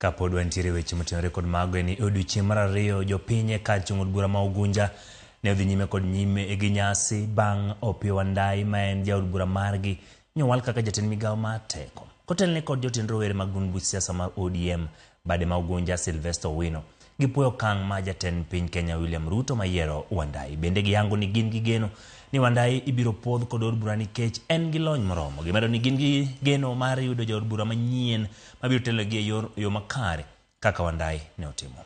Kapod wantiere weche motenore kod mago en ni odiochieng' mar ariyo jopiny e kar chung' od bura ma Ugunja ne odhi nyime kod nyime gi nyasi bang' Opiyo Wandayi ma en jaod bura margi nyowal kaka jatend migawo mar teko kotelne kod jotend rowere mag duond buch siasa mar ODM bade ma Ugunja Sylvester Owino. Gipuoyo okang' ma jatend piny Kenya William Ruto mayiero Wandai. Bende giyango ni gin gi geno ni Wandai ibiro puodh kod od bura nikech en gi lony moromo. Gimedo ni gin gi geno mar yudo jaod bura manyien mabiro telogi e yor yo makare kaka Wandai ne otimo.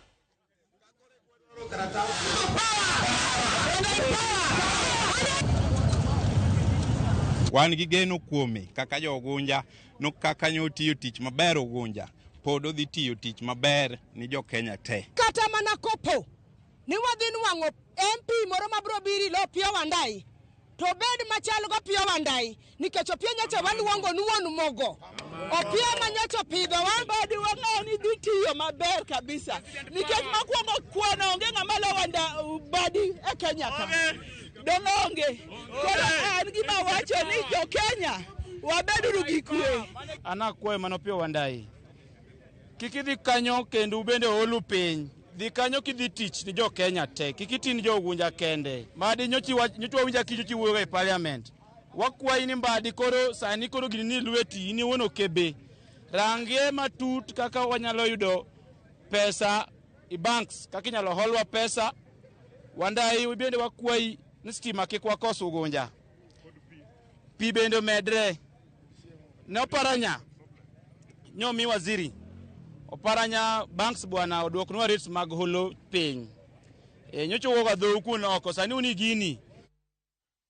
Wan gi geno kuome kaka jo Ogunja. no kaka nyo tiyo tich maber Ugunja pod odhi tiyo tich maber ni jo Kenya te. Kata mana kopo ni wadhi nwang'o MP moro ma bro biri lo Opiyo Wandayi to bed machal go Opiyo Wandayi nikech Opiyo nyocha waluongo ni wuon mogo Opiyo ma nyocha opidhowa badi wang'eyo ni dhi tiyo maber kabisa nikech makwongo kwano onge ng'ama lo wanda badi e Kenya ka Dong' onge. Koro an gima wacho ni jo Kenya wabeduru gi kwe. An akwayo mano Opiyo Wandayi, kik idhi kanyo kendo ubende oolu piny. Dhi kanyo kidhi tich ni jo Kenya te, kik iti ni jo Ugunja kende. Mbadi nyocha iwach- nyocha wawinja kicho chiwuoyo e parliament. Wakwayi ni Mbadi koro sani koro gini ni lweti in iwuon okebe. Rangie matut kaka wanyalo yudo pesa i banks kaka inyalo holwa pesa wandayi bende wakwayi ni stima kik wakos ugunja pi bende omedre ne oparanya nyomi waziri oparanya banks bwana odwoknwa rates mag holo piny e, nyocha wuoga dhou kuno oko sani uni gini